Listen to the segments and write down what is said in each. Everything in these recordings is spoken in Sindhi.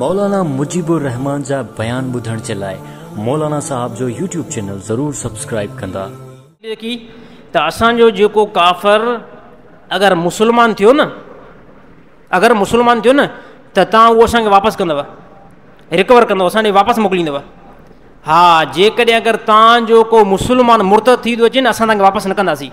مولانا مجيب الرحمان جا بيان ٻڌڻ جي لاء مولانا صاحب جو يوٽيوب چينل ضرور سبسڪرائيب ڪندا. ڏيکي ته اسان جو جيڪو ڪافر اگر مسلمان ٿيو نه اگر مسلمان ٿيو نه ته تان اهو اسان کي واپس ڪندو رڪور ڪندو اسان ڏي واپس موڪليندو ها جيڪڏهن اگر تان جو ڪو مسلمان مرتد ٿي ٿو اچي نه اسان تان کي واپس نه ڪنداسين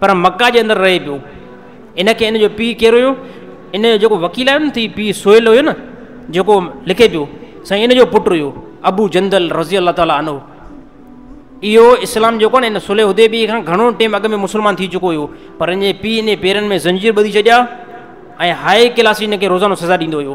پر مڪه جي اندر رهي پيو. ان کي ان جو پيء ڪير هيو؟ ان جو جيڪو وڪيل آهيو نه ٿي پيء سهيل هيو نه جيڪو لکي پيو سائين ان جو پٽ هيو ابو جندل رضي الله تعالٰي عنه اهو اسلام جيڪو نه ان سلي هدي بي کان گهڻو ٽيم اڳ ۾ مسلمان ٿي چڪو هيو پر ان جي پيء ان پيرن ۾ زنجير ٻڌي ڇڏيا ۽ هائي ڪلاسي ان کي روزانو سزا ڏيندو هيو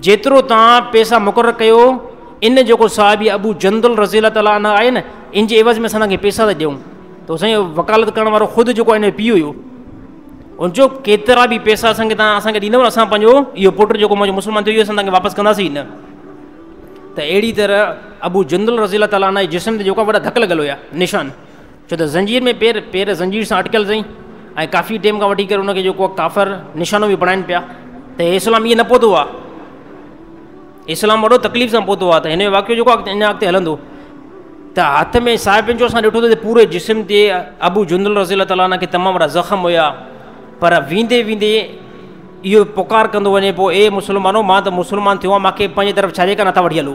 جيترو توهان پئسا مقرر ڪيو، ان جيڪو صحابي ابو جندل رضي الله تعالٰي عنه آهي نه، ان جي عيوض ۾ اسان توهانکي پئسا ٿا ڏيون. ته حسين جو وڪالت ڪرڻ وارو خود جيڪو آهي نه پيء هيو. ان چيو ڪيترا به پئسا اسان کي توهان اسان کي ڏيندؤ نه اسان پنهنجو اهو پٽ جيڪو منهنجو مسلمان ٿيو اهو اسان توهانکي واپس ڪنداسين نه. ته اهڙي طرح ابو جندل رضي الله تعالٰي عنه جي جسم تي جيڪو آهي وڏا ڌڪ لڳل هيا، نشان. ڇو ته زنجير ۾ پير، پير زنجير سان اٽڪيل رهي ۽ ڪافي ٽيم کان وٺي ڪري ان کي جو ڪو ڪافر نشانو به بڻائن پيا ته هي اسلام ائين نه پهتو آ، اسلام وڏو تڪليف سان پهتو آ ته هن جو واقعو جيڪو آ اڃا اڳتي هلندو ته هٿ ۾ صاحبين جو اسان ڏٺو ته پوري جسم تي ابو جندل رضي الله تعالی عنه کي تمام وڏا زخم هيا پر ويندي ويندي اهو پڪار ڪندو وڃي پيو اي مسلمانو مان ته مسلمان ٿيو آ مانکي پنهنجي طرف ڇڏي ڪا نٿا وٺي هلو